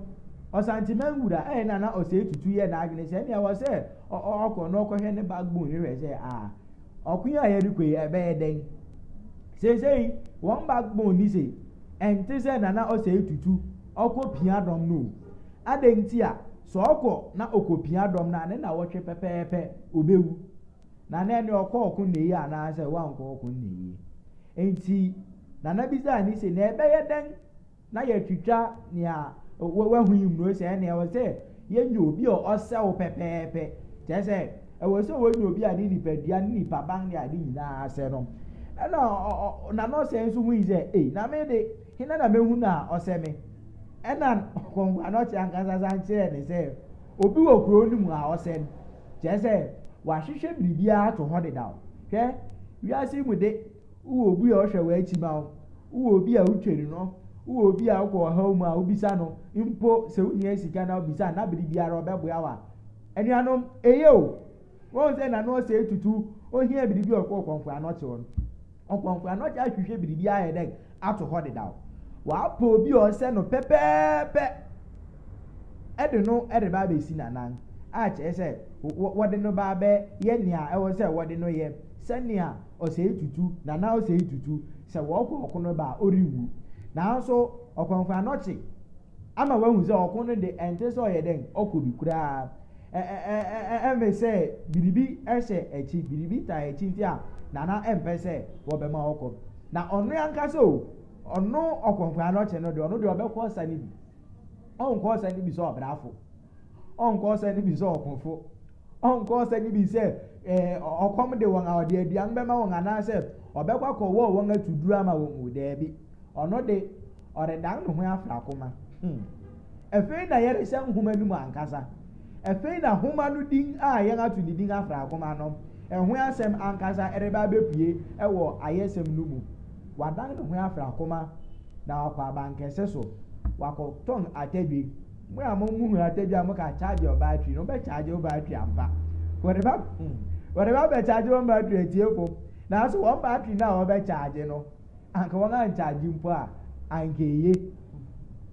Osantemang wura, ɛyɛ Nana Osei Tutu yɛɛ n'adwene sɛ nea ɛwɔ sɛ ɔkɔ na ɔkɔhwɛ ne backbone no hwɛ sɛ, a. Ɔko yi a yɛde kɔ yi, ɛbɛyɛ dɛn? Seesei, wɔn backbone ni se, Ɛnte sɛ Nana Osei Tutu, ɔkɔ pia dɔm no o. Adɛn nti a? Sɛ ɔkɔ na ɔkɔpia dɔm no a, ne nnawɔtwe pɛpɛɛpɛ, ɔbɛwu. Na na ɛnneɛ ɔkɔɔ ɔko nnɛyi anaasɛ wankɔ ɔko nnɛyi. Enti, Nana bisaa no se, Na ɛbɛyɛ dɛn? na yɛatwitwa nea wahu yi mmuro sɛ ɛnna ɛwɔ sɛ yɛnya obi a ɔsɛw pɛpɛɛpɛ kyerɛ sɛ ɛwɔ sɛ wɔnya obi a ne nipadua ne nipaban ne ade nyinaa asɛ no ɛna na no sɛ nso hui sɛ ei na me de hena na mehu no a ɔsɛ me ɛna kɔnkɔa no ɔte ankasa san kyerɛɛ ne sɛ obi wɔ kurow no mu a ɔsɛ no kyerɛ sɛ wahwehwɛ biribiara ato hɔ dedaw hwɛ wiase mu de Wowɔ obi a ɔhwɛ w'akyi ma wo? Wowɔ obi a wutweri no? Wowɔ obi a wokɔ ɔhaw mu a wubisa no mpo sɛ wuhia sika na wubisa no na bere biara ɔbɛboa wo a? Anuanom, eye o! Wɔn sɛ n'ano ɔsɛe tutu, ohia biribi a ɔkɔ ɔkɔmfo anɔkye hɔ no. Ɔkɔmfo anɔkye ahwehwɛ biribi ayɛ dɛn ato hɔ dedaw? Wapɛ obi a ɔsɛ no pɛpɛɛpɛ de no reba abɛsi n'anan, a kyerɛ sɛ wɔde no ba abɛyɛ nea ɛwɔ sɛ wɔde no yɛ sɛnea ɔsɛe tutu, nana ɔsɛe tutu, sɛ wɔkɔ ɔko no ba a, ɔrenwu. Nanso ɔkɔmfo anɔkye ama wahu sɛ ɔko no de ɛnte sɛ ɔyɛ dɛn, ɔkɔ bi koraa. Ɛ ɛ ɛ ɛ ɛ ɛmfe sɛ biribi hyɛ akyi, biribi taa akyi nti a nana mpɛ sɛ wɔbɛma ɔkɔ. Na ɔno ankasa o, ɔno ɔkɔmfo anɔkye no deɛ, ɔno deɛ ɔbɛkɔ ɔsa no bi. Ɔnkɔ ɔsa no bi sɛ ɔbrafo. ɔnkɔ ɔsɛ no bi sɛ ɔkofo, ɔnkɔ ɔsɛ no bi sɛ ɛɛ ɔkɔm de wɔn a ɔde aduan bɛma wɔn anaasɛ ɔbɛkɔ akɔwɔ wɔn atu duru ama wɔn mu daabi ɔno de ɔredan ne ho afra koma hmm. ɛfei na yɛrehyɛ nhoma no mu ankasa ɛfei na nhoma no din a yɛn ato ne din afra koma no ɛho asɛm ankasa ɛreba abɛpue ɛwɔ ayɛsɛm no mu wadan ne ho afra koma na wakɔ abankɛse so wakɔtɔn atadwe Mo a mo mu hia tadua a mo ka charge your battery no bɛ charge wo battery ampa. Wɔde ba hmm, wɔde ba bɛ charge wɔn battery atiefo. Nanso wɔn battery no a wɔbɛ charge no, anka wɔn ancharge mpo a, anka eye.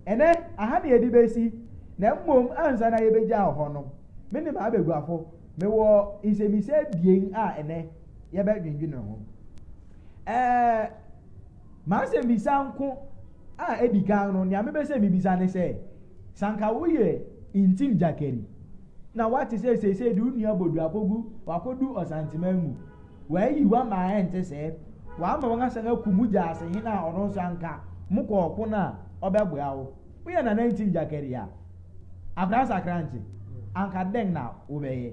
Ɛnɛ, aha na yɛde besi, na mmom ansa na yɛbɛgyaw hɔ no, me ne m'abaguafo, mewɔ nsɛmmisa abien a ɛnɛ yɛbɛdwendwene ho. Ɛɛ. M'asɛmmisa nko a edi kan no, nea mepɛ sɛ mibisa ne sɛ, Sɛ anka woyɛ Ntim Gyakari, na woate sɛ seesei de wo nua Bodu akogu, wakodu Ɔsanteman mu, wɔayi wo ama a ɛnte sɛɛ, wɔama wɔasan akum wo gyaasehene a ɔno nso anka mokɔ ɔko no a ɔbɛboa wo, woyɛ Nana Ntim Gyakari a, Akoransah Krankye, anka dɛn na wobɛyɛ?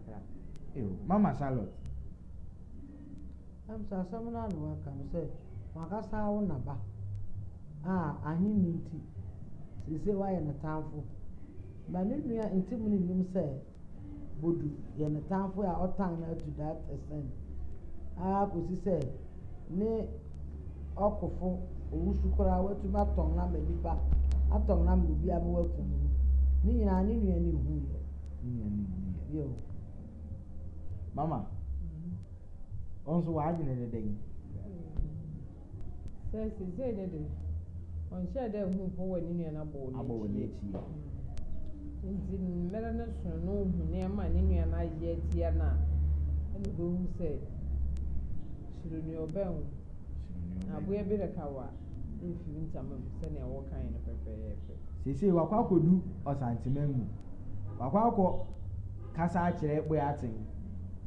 Mama Charlotte. Ɛm sɛ asɛm no ara na waka no sɛ w'ankasa ara wo na ba a ahenni nti seesei woayɛ ne tamfo. But ne nua Ntimu no nnim sɛ Bodu yɛ ne tamfo a ɔtan no ara to that extent ara kɔsi sɛ ne ɔkofo owusu koraa watumi atɔn no ama nnipa, atɔn no ama obiara ma wakum no. Ne nyinaa ne nua no nhuiɛ. Mama, wọn nso w'adwene ne dɛn? Sɛ sisei ne de, ɔnhyɛɛ dɛ hu mpo wɔ ne nua no abɔw no abɔw no akyi. Ntsi mber no so no ohu nneɛma a ne nua no ayɛ etsia no a, nna obohu sɛ suro nea ɔbɛn wo. Aboa bi reka wo a, mmfi wo ntama mu sɛnea wɔkae no pɛpɛɛpɛ. Seesei wakɔ akɔdu Ɔsanteman mu. Wakɔ akɔ kasa akyerɛ Boyateng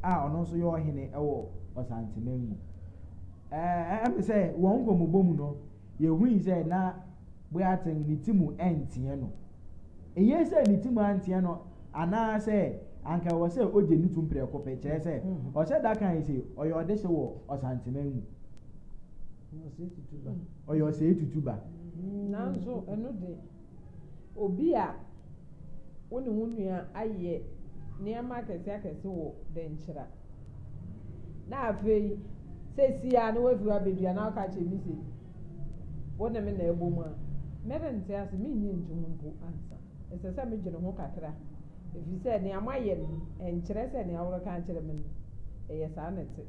a ɔno nso yɛ ɔhene wɔ Ɔsanteman mu. Ɛɛ ɛm sɛ wɔn nkɔmmɔbɔ mu no, yɛhui sɛ na Boyateng ne ti mu nteɛ no. Ɛnyɛ sɛ ne ti mu anteɛ no anaasɛ anka ɛwɔ sɛ ɔgye no tum prɛko pɛ, kyerɛ sɛ ɔhyɛ da kae sɛ ɔyɛ ɔdehye wɔ Ɔsanteman mu. ɔyɛ ɔsɛe tutu ba. Nanso ɛno de, obi a wo ne wo nua ayɛ nneɛma akɛseakɛse wɔ dɛnkyira, na afei seesei ara na wafi hɔ abɛdua na ɔka kyerɛ me se, Wo ne me na ɛbom a, merente ase, merennye ntom mpo ansa. Ɛsɛ sɛ midwene ho kakra, efisɛ nea moayɛ no nkyerɛ sɛ nea woreka akyerɛ me no, ɛyɛ saa na ɛte.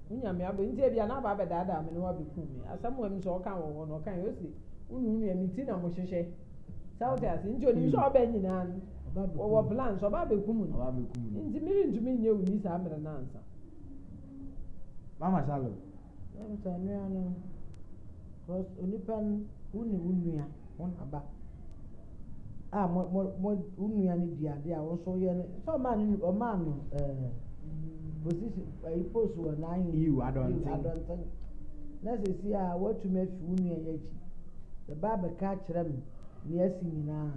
Wo nyame abɔ nti ebia na aba abɛdaadaa me na wabekum me. Asɛm a Musa ɔka wɔ hɔ no, ɔkae, ose, Wo ne wo nua, me ti na mohwehwɛ. Sɛ wote ase? Nti onim sɛ ɔba nyinaa no, wɔwɔ plans, ɔba abekum no. Nti merentumi nyɛ wo nni saa mmere no ansa. Mama Charlotte, Ntɛntɛm nua no cos onipa no wo ne wo nua wo na ba a mo mo mo wo nua no di adeɛ a wo nso woyɛ no sɛ ɔmaa no ɔmaa no ɛɛ position ɛyi post wɔ n'ayi yiw adɔnten adɔnten na sisi a watumi afi wo nua yɛ akyi ɛba abɛka akyerɛ me nea asi nyinaa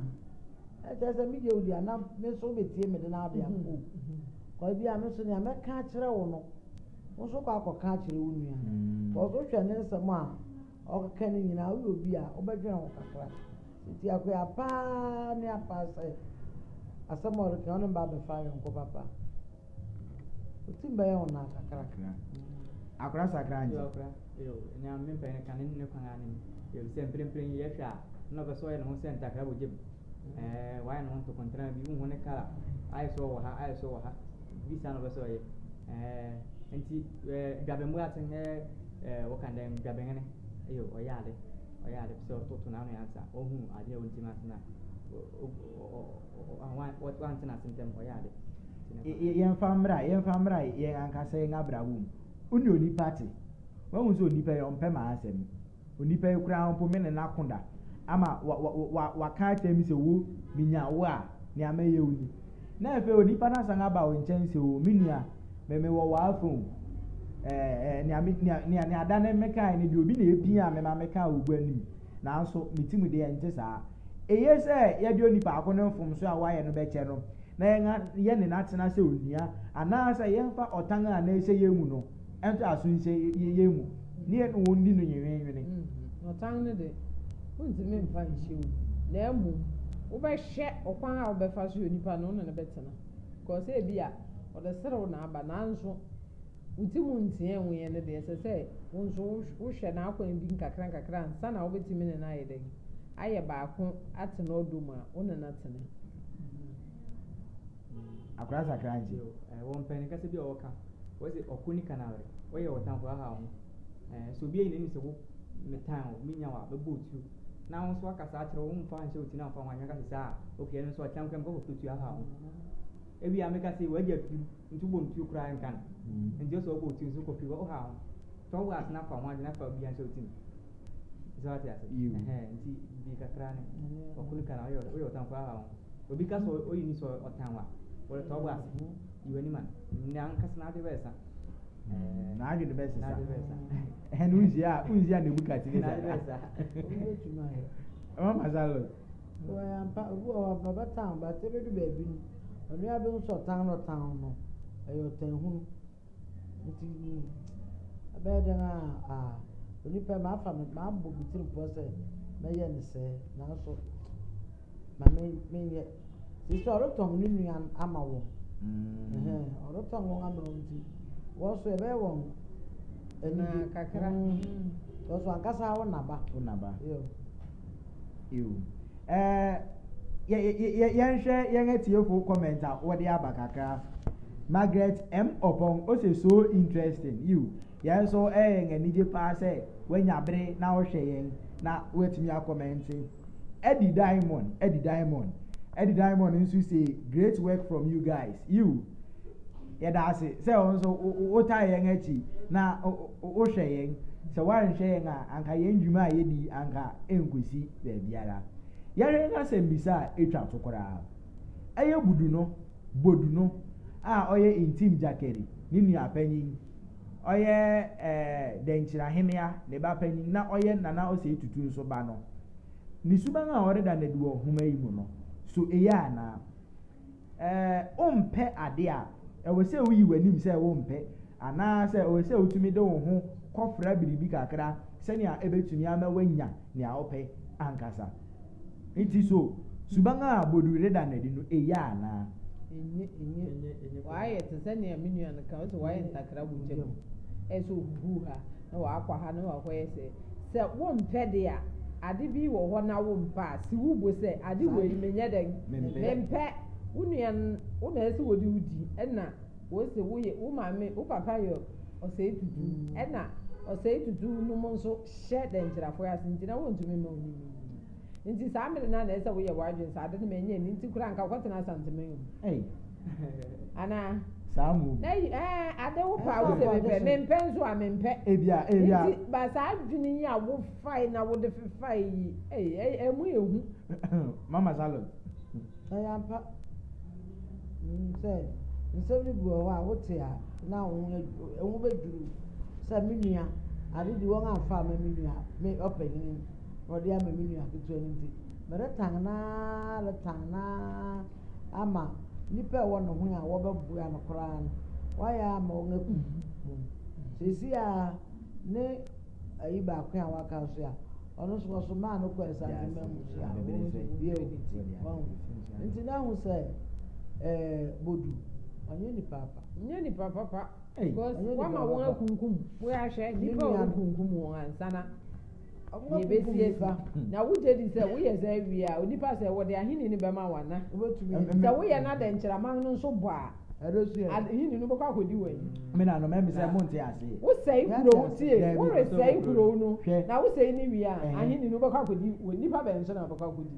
ɛkyɛ sɛ mi deɛ odi anam me nso wobɛtie me de na ɔde akɔ o kɔ bi a me nso nea mɛka akyerɛ wo no. Wo nso kɔ akɔka akyerɛ wo nua no. Sɛ ɔso hwɛ ne nsɛm a ɔkeka no nyinaa, woyɛ obi a wobɛdwene ho kakra. Enti akoya paa ne apaa sɛ asɛm a ɔreka ɔne ba bɛfa ayɔnko papa. Otim bɛyɛ wo naa kakra. Akora sakra nti. Akora, yo, nea mempɛ ne ka ne ne kwan ara ne me. Efisɛ mprempren yi yɛhwɛ a, na ɔpɛ sɛ ɔyɛ ne ho sɛ ntakra wɔ gya mu. Ɛɛ wayɛ ne ho ntokontrama bi wonhu ne kala ayɛ sɛ ɔwɔ ha ayɛ sɛ ɔwɔ ha bi saa na ɔbɛ sɛ ɔyɛ ɛɛ nti ɛɛ dwabɛmbo ase ɛɛ ɛɛ wɔka dɛ dwabɛhene ɛyɛ ɔyɛ ade ɔyɛ ade sɛ ɔtoto n'ano ansa ɔhu ade a ɔntim ase na wante n'ase ntɛm ɔyɛ ade. Yɛmfa mmra yɛmfa mmra yɛn ankasa yɛn abrabɔ mu wo ne onipa te wahu sɛ onipa yi ɔmpɛ m'asɛm. Onipa yi koraa mpo me ne no ako da, ama waka akyerɛ me sɛ, 'Wo, minya wo a, nea mɛyɛ wo ni. Na afei onipa no asan aba wo nkyɛn sɛ, 'O, me nua, me, mewɔ w'afã o. Ɛɛ, ɛɛ, nea, nea da no mekae no deɛ, obi na epiaa me ma mekaa wo gua no mu. Nanso, me tirim deɛ ɛnte saa. Eye sɛ yɛde onipa ko no mfomso a wayɛ no bɛkyɛ no, na yɛn, yɛne no atena sɛ onua, anaasɛ yɛmfa ɔtan a na ɛhyɛ yɛn mu no ntoaso yi sɛ yɛn mu ne yɛne wɔn di no nwenweenwene. Mm-hmm. Ɔtan no de, wontumi mfa nhyɛ wo mu, na mmom wobɛhwɛ ɔkwan a wobɛfa so yɛ onipa no ne no bɛtena. Kɔɔ sɛ ebi a ɔde serew na aba, nanso wo ti mu nteɛ nwo yɛn no deɛ, ɛsɛ sɛ wo nso wohwɛ n'akwan bi nkakra nkakra ansa na wobɛtumi ne no ayɛ dɛn? Ayɛ baako atena ɔdɔ mu a wo ne no atena. Akora sakra nti. Yo, eh, wɔ mpɛn kasa bi a wɔka, wɔse ɔko ni kanawere, wɔyɛ wɔ tamfo ahaw ho. Eh, sɛ obi ayi n'anim sɛ wo, me tan wo, me nya wo a, mɛbɔ wo tuo. Na wo nso woaka saa akyerɛ wo, womfa nhyɛ wo ti na womfa ho anwene ka sɛ saa a, ok, ɛno nso ɔkyena koraa mekɔ kɔtɔ tuo ahaw ho. Ewie a meka sɛ w'agya pirim nti wobɔ no tuo koraa ɛnka no. Mm. Nti ɔsɛ ɔbɔ wo tuo nso wokɔ firi hɔ, wohaw ho. Tɔ wo ase na fa ho adwene afa obi anhyɛ wo ti mu. Sɛ wate ase? Yo. Ɛhɛɛ, nti bi kakra ne ɔko ni kanawere, woyɛ wɔ tamfo ahaw ho. Obi ka sɛ oyi ni sɛ ɔtan wo a, woretɔ wo bo ase. Yi w'anim a, n'ankasa n'adwene bɛsesa. N'adwene bɛsesa. Ɛno nhyia a, wonhyia Nebukadnesar. N'adwene bɛsesa. Wobɛtumi ayɛ. Ɛma ma saa lɔ. Wɔyɛ ampa, obi wɔ hɔ a, ɔbɛtan wo, but ɛbɛdu baabi no, ɔno ara bɛhu sɛ ɔtan na ɔtan wo no, ɛyɛ ɔtanhunu. Nti mm, ɛbɛyɛ dɛn a, ah, onipa yi mafa me, mabɔ me tirim pɔ sɛ mɛyɛ ne sɛɛ, nanso ma me, menyɛ. Sisi ɔretɔn ne nua ama wɔn. Mm. Ɔretɔn wɔn ama wɔn nti, wɔn nso ɛbɛyɛ wɔn anigye. Kakra. Mm. Wɔn nso ankasa wo naba. Wo naba. Yeah. Ew. Eh, yɛ, yɛ, yɛ, yɛnhwɛ yɛn atiefo comment a wɔde aba kakra. Margaret M. Opong, ose so interesting. Ew. Yɛn nso ɛyɛ yɛn anigye paa sɛ woanya bere na wohwɛ yɛn na woatumi akɔmɛnte. Eddie Diamond, Eddie Diamond, Eddie Diamond nso se great work from you guys. Ew. Yɛda ase sɛ wo nso wo, wo, wotaa yɛn akyi na Wohwɛ yɛn, sɛ woanhwɛ yɛn a, anka yɛn dwuma a yedi yi anka enkosi baabiara. Yɛhwɛ yɛn asɛmmisa a etwa to koraa. Ɛyɛ Bodu no, Bodu no, a ɔyɛ Ntim Gyakari ne nua panyin, ɔyɛ eh, Dɛnkyiri Ahenea ne ba panyin na ɔyɛ Nana Osei Tutu nso ba no. Ne suban a ɔreda no adi wɔ nhoma yi mu no, so eye anaa? Ɛɛ, wompɛ ade a, ɛwɔ sɛ wuyi w'anim sɛ wompɛ, anaasɛ ɛwɔ sɛ wutumi de wo ho kɔfra biribi kakra sɛnea ebetumi ama woanya nea wopɛ ankasa? Enti so suban a Bodu reda no adi no eye anaa? Enye, enye. Wayɛ te sɛ nea me nua no ka, ɔse wayɛ ntakra wɔ gya mu. Ɛyɛ sɛ ohuhuw ha. na ɔakɔ ha na ɔakɔ yɛ sei. Sɛ wommpɛ de a, ade bi wɔ hɔ na wommpɛ a, si wo bo sɛ, ade wei mennyɛ dɛn? Memmpɛ. Wo nua no, wo na ɛsɛ wɔde wo di. Ɛna wɔse woyɛ, wo maame, wo papa yɛ ɔsɛe tutu. Ɛna ɔsɛe tutu nom nso hyɛ dɛnkyerɛfoɔ ase nti na wɔnntumi mma wo ne no nni. Enti saa mmere no ara na ɛsɛ sɛ woyɛ w'adwene sɛ ade no menyɛ ne nti koraa anka wokɔtena Asantema yi mu. Ei. Anaa? Saa mu. Na yi, ɛɛ, ade wo paa wo sɛ mepɛ, mempɛ nso a mempɛ. Ebia, ebia. Nti, ba saa adwene yi a wofae na wode fefae yi, ei, ei, ɛmu yɛ hu. Mama Charlotte. Ɛyɛ ampa. Menim sɛ nsɛm no bi wɔ hɔ a wote a na wo ho, wo ho bɛdwiriw sɛ me nua, ade de wɔn amfa amma me nua, me ɔpanyin. na ɔde ama me nua ketewa no nti, meretan no ara retan no ara ama nnipa a ɛwɔ ne ho a wɔbɛboa no koraa no, wɔayɛ ama wɔn akum no. Seesei a ne ayi baako a waka nso a, ɔno nso wɔsomaa no kɔɔ Asante Manmu so a wɔn nso wɔyɛ o. Wɔn nti na ahu sɛ ɛɛ Bodu ɔnyɛ nipa apa. Nyɛ nipa papa. Because wama wɔn akunkum wɔn ahwɛ nipa a wɔkunkum wɔn ansana. Nea ebesi asi, na wugye di sɛ woyɛ saa wie a, onipa a sɛ wɔde Ahenni no bɛma wo ana? Sɛ woyɛ na dɛnkyɛmma no nso bɔ a, Ahenni no bɛkɔ akodi w'anim. Wosɛe kurow, tie, woresɛe kurow no, na wosɛe no wie a, Ahenni no bɛkɔ akodi w'anim. Nnipa bɛn so na wobɛkɔ akodi?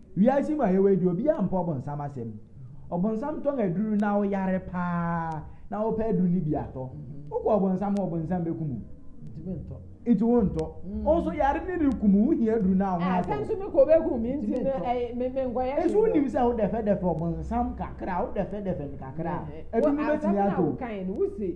Wiase mu a yɛwɔ yi deɛ obiara mpɛ ɔbonsam asɛm. Ɔbonsam tɔn aduru na wo yare paa na wopɛ aduru no bi atɔ. Wokɔ ɔbonsam hɔ ɔbonsam bɛku mu. Nti wo ntɔ. Wo nso yare no reku mu wo hia aduru no a ho atɔ. Ɛsɛ nso me kɔ bɛku mu nti no ɛyɛ me me nkɔyɛ hwee. Nso wonim sɛ wo dɛfɛdɛfɛ ɔbonsam kakra wo dɛfɛdɛfɛ no kakra aduru no bɛtumi atɔ o. Asɛm na wokae no wo se.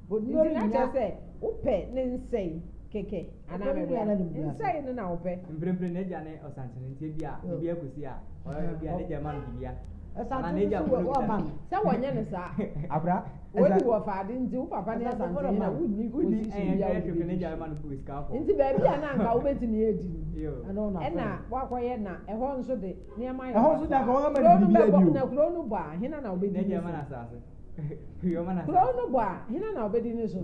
Nti na kyerɛ sɛ wopɛ ne nsɛe kɛkɛ anaa meboa wo? Nsɛe no na wopɛ? Mprempren n'agya ne Ɔsankyen nti ebia biribiara kosi a, ebia n'agya mma no biribiara. Anaa n'agya mpo no kuta no. Sɛ wɔnyɛ no saa a, wodi wɔ fa ade nti wo papa ne Ɔsankyen na wonni position biara a wode bedi so. Nti baabi a na anka wobetumi adi no, ɛna woakɔyɛ na ɛhɔ nso de, nneɛma yɛ basaa. Kurow no bɛbɔ, na kurow no bɔ a, hena na obedi ne so? Kurow no bɔ a, hena na obedi no so?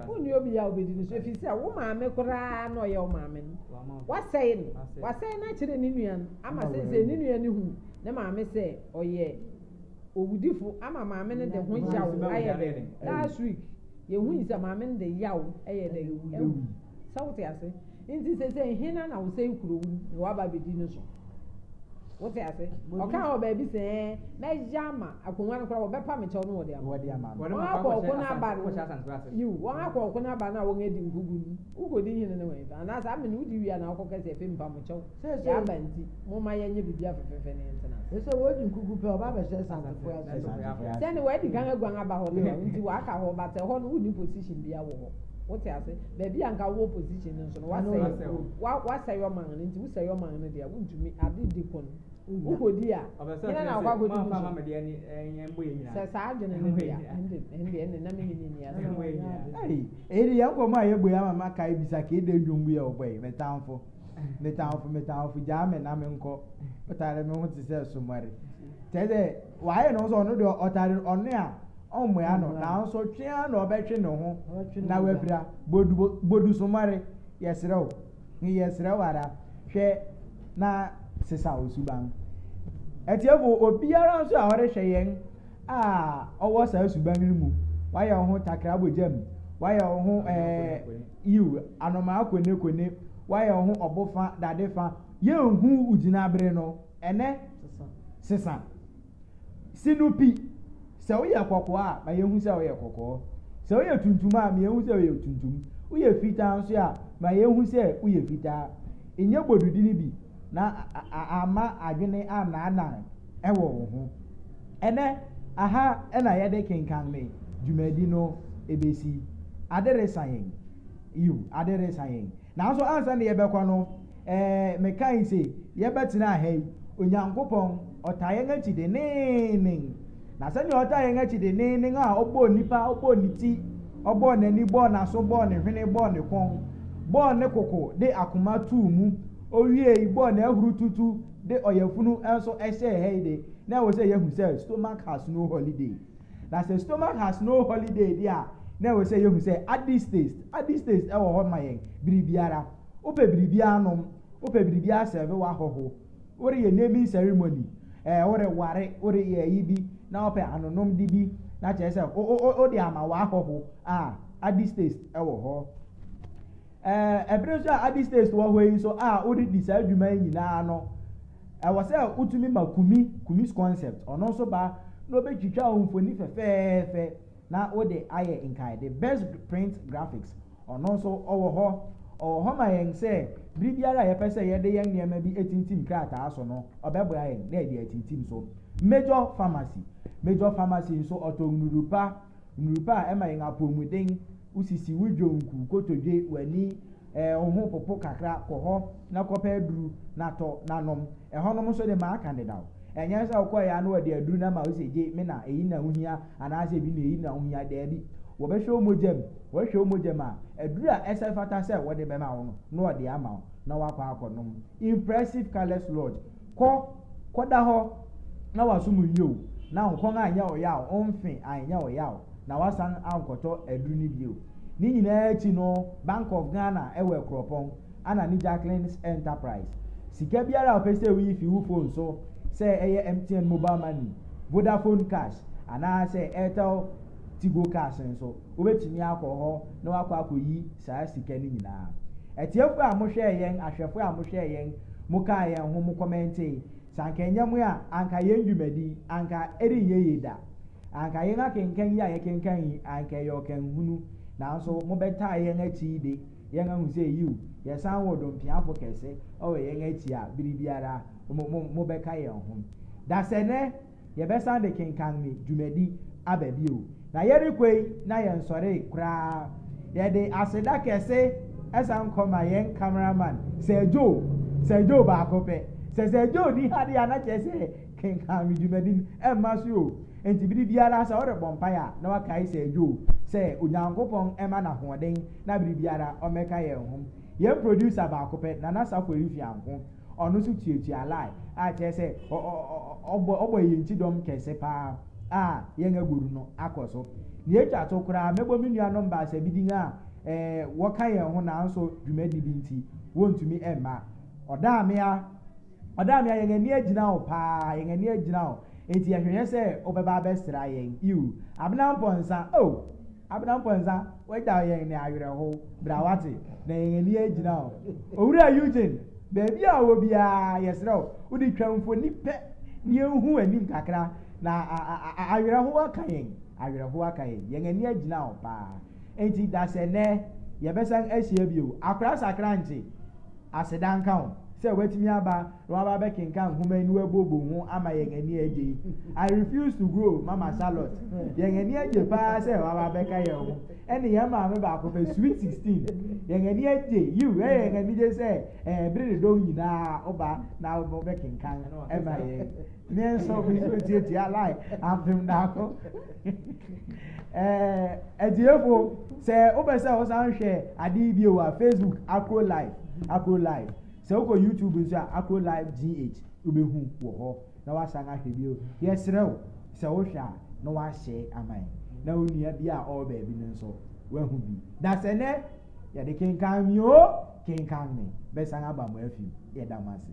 Wonni obiara a obedi no so, efisɛ wo maame koraa na ɔyɛ wo maame no. Wɔasɛe no. Wɔasɛe no akyerɛ ne nua no ama seesei ne nua no hu ne maame sɛ ɔyɛ owudifo ama maame no de ho yaw ayɛ den. Last week, yehui sɛ maame no de yaw yɛ dɛn? Awui. Sɛ wote ase? Nti sese hena na wosɛe kurow no na waba abedi no so? Wote ase? Ɔkaa wɔ baabi sɛ ɛɛ, mɛyɛ ama akonnwa no koraa wɔbɛpa me kyɛw no wɔde ama. Wɔde ama no. Wɔn akɔ ɔko no aba no. Wɔhyɛ asante ase. Yiw, wɔn akɔ ɔko no aba no a wɔadi nkogu no. Wokodi hene no wɛn? Anaasɛ amene wodi wie a na wokɔka sɛ afei mepa mo kyɛw. Nea aba nti, momma yɛnyɛ biribi afefeefe ne yɛntena ase. Efisɛ wɔadi nkogu pɛ, wɔba abɛhyɛ asantefo ase. Sɛ ɛne wɔadi kan aguan aba hɔ de a, wo nti wɔaka hɔ, but ɛhɔ no wonni position biara wɔ hɔ. Wote ase? Baabi a anka wowɔ position no nso no, wɔasɛe, wɔasɛe ɔman no, enti wosɛe ɔman no de a, wuntumi, ade di ko no, wukodi a, hena na wakɔ akodi wo so? Sɛ saa adwene no de a, ɛnde, ɛnde, ɛnde na me ne no nni asɛm. Ei, ɛyi de yɛn nkɔmmɔ a yɛbɔ yi ama makae bisa kee dɛ nnwom bi a wɔbɔ yi, Me Tamfo. metamfo metamfo gyaa me na menkɔ ɔtare me ho te sɛ somɔre kyɛ sɛ wayɛ ne ho sɛ ɔno deɛ ɔtare ɔne a ɔmmoa no nanso twea na ɔbɛtwe ne ho na wapira bodu bodu somɔre yɛsrɛ wo yɛsrɛ wo ara hwɛ na sesa wo suban atiefo obiara nso a ɔrehwɛ yɛn a ɔwɔ saa suban no mu wayɛ wo ho takra bɔ gyam wayɛ wo ho ɛɛ Yiw, anomaa kwenekone, woayɛ wo ho ɔbo fã, dade fã. Yenhu wo gyinabre no ɛnnɛ. Sesa. Si no pi. Sɛ woyɛ kɔkɔɔ a, ma yenhu sɛ woyɛ kɔkɔɔ. Sɛ woyɛ tuntum a, ma yenhu sɛ woyɛ tuntum. Woyɛ fitaa nso a, ma yenhu sɛ woyɛ fitaa. Nyɛ bodudi no bi, na amma adwene annaanan. wɔ wo ho. Ɛnnɛ, aha na yɛde kenkan me dwumadi no besi. Ade resa yɛn. Yiw, ade resa yɛn. Nanso ansa na yɛbɛkɔ no, eh, mekae se yɛbɛtena ha yi. Onyankopɔn, ɔtaa yɛn akyi denneennen. Na sɛnea ɔtaa yɛn akyi denneennen a ɔbɔɔ nipa, ɔbɔɔ ne ti, ɔbɔɔ n'ani, bɔɔ n'aso, bɔɔ ne hwene, bɔɔ ne kɔn, bɔɔ ne koko de akoma too mu, owiei bɔɔ n'ahurututu de ɔyafunu nso hyɛɛ ha yi de, na ɛwɔ sɛ yɛhu sɛ stomach has no holiday. Na sɛ stomach has no holiday de a, na ɛwɔ sɛ yɛhu sɛ addis taste, addis taste ɛwɔ hɔ ma yɛn bere biara. Wopɛ biribiara nom, wopɛ biribiara sɛve w'ahɔho, woreyɛ naming ceremony, ɛɛ woreware, woreyɛ ayi bi na wopɛ anonomde bi na kyerɛ sɛ wode ama w'ahɔho a, addis taste ɛwɔ hɔ. Ɛɛ, bere nso a Adi States wɔ hɔ yi nso a wode di saa dwuma yi nyinaa no, ɛwɔ sɛ wotumi ma Kumi, Kumi's Concept, ɔno nso ba na obetwitwa wo mfoni fɛfɛɛfɛ na wode ayɛ nkaede. Best Print Graphics, ɔno nso ɔwɔ hɔ. Ɔwɔ hɔ ma yɛn sɛ bere biara a yɛpɛ sɛ yɛde yɛn nneɛma bi tintim krataa so no, ɔbɛboa yɛn na yɛde atintim so. Major Pharmacy, Major Pharmacy nso ɔtɔn nnuru pa, nnuru pa a ɛma yɛn apɔwmuden. Wo sisi wo dwonku kotodwe w'ani eh Wo ho popo kakra kɔ hɔ na kɔpɛ aduru na tɔ na nom Ɛhɔnom nso de m'aka dedaw Ɛnyɛ sɛ wokɔeɛ a na wɔde aduru no ama wo sɛ gye me na eyi na wohia Anaasɛ bi na eyi na wohia Daabi Wɔbɛhwɛ wo mogya mu Wɔhwɛ wo mogya mu a Aduru a ɛsɛ fata sɛ wɔde bɛma wo no na wɔde ama wo na woakɔ akɔnom Impressive Colours Lodge Kɔ, kɔda hɔ na w'asom nnye wo, na wo kɔn anyɛ wo yaw, wo mfe anyɛ wo yaw, na woasan ankɔtɔ aduru no bio. Ne nyinaa akyi no, Bank of Ghana wɔ Akuropɔn, ana ne Jacqueline's Enterprise. Sika biara a wopɛ sɛ woyi fi wo fon so, sɛ ɛyɛ MTN Mobile Money, Vodafone Cash, anaasɛ Airtel Tigo Cash nso, wobɛtumi akɔ hɔ na wɔakɔ akɔyi saa sika no nyinaa. Atiefoɔ a mohwɛɛ yɛn, ahwɛfoɔ a mohwɛɛ yɛn, mokaa yɛn ho, mo kɔmɛntee, sɛ anka ɛnyɛ mo a, anka yɛn dwumadi yi, anka ɛrenyɛ yie da. Anka yɛn akenkan yi a yɛkenkan yi, anka ɛyɛ ɔkanhunu. Nanso mobɛtaa yɛn akyi yi de, yɛn ahu sɛ yiw, yɛsan wɔ Dompeafo kɛse wɔ yɛn akyi a bere biara mo, mo, mobɛka yɛn ho. Dasɛnɛ! yɛbɛsan de kenkan me dwumadi aba bio. Na yɛrekɔ yi na yɛnsɔree koraa. Yɛde aseda kɛse san kɔ ma yɛn camera man, Sir Joe. Sir Joe baako pɛ. Sɛ Sir Joe ni ha deɛ a na kyerɛ sɛ kenkan me dwumadi no ɛmma so o. Nti bere biara sɛ worebɔ mpaeɛ a na wakae Sir Joe sɛ Onyankopɔn ɛma no ahoɔden na bere biara ɔmmɛka yɛn ho. Yɛn producer baako pɛ, Nana Saffo Rifianho. Ɔno nso tuatua lie a kyerɛ sɛ ɔbɔ ɔbɔ yɛn ti dɔm kɛse paa a yɛn agoru no akɔ so. Nea etwa to koraa, mɛbɔ me nuanom baasa bi din a ɛɛ wɔka yɛn ho nanso dwumadi bi nti wɔntumi mma. Ɔdaamea, Ɔdaamea yɛn ani agyina wo paa, yɛn ani agyina wo, enti yɛhwehwɛ sɛ wobɛba abɛsra yɛn. Yiw, Abena Mpɔnsa, oh! Abena Mponsa, wagyaw yɛn ne awerɛhow, bra wate, na yɛn ani agyina wo. Owura Eugene, baabi a ɔwɔ biara, yɛsrɛ wo, wode twa mfoni pɛ na yɛnhu w'anim kakra, na awerɛhow aka yɛn, awerɛhow aka yɛn, yɛn ani agyina wo paa. Enti dasɛnnɛ, yɛbɛsan ahyia bio, akora sakra nkye, aseda nka wo sɛ woatumi aba. na wɔaba abɛkenkan nhoma yi na wɔabuobuo ho ama yɛn ani agye yi. I refuse to grow, Mama Charlotte. Yɛn ani agye paa sɛ wɔaba abɛka yɛn ho. Ɛne yɛn maame baako pɛ, Sweet Sixteen. Yɛn ani agye, yiw, ɛyɛ yɛn anigye sɛ ɛɛ bere ne dɔn nyinaa woba na wobɛkenkan ma yɛn. Me nso, me nso ntiatia lai ampem daako. ɛɛ atiefo, sɛ wopɛ sɛ wosan hwɛ ade yi bio a, Facebook, Akro Life, Akro Life. Sɛ wokɔ YouTube nso a, Akro Live GH wobɛhu wɔ hɔ na woasan ahwɛ bio. Yɛsrɛ wo sɛ wohwɛ a na woahyɛ ama yɛn na wo nua bi a ɔwɔ baabi no nso wahu bi. Dasɛnɛ yɛde kenkan me oo, kenkan me, mɛsan aba mo afi mu. Yɛda mo ase.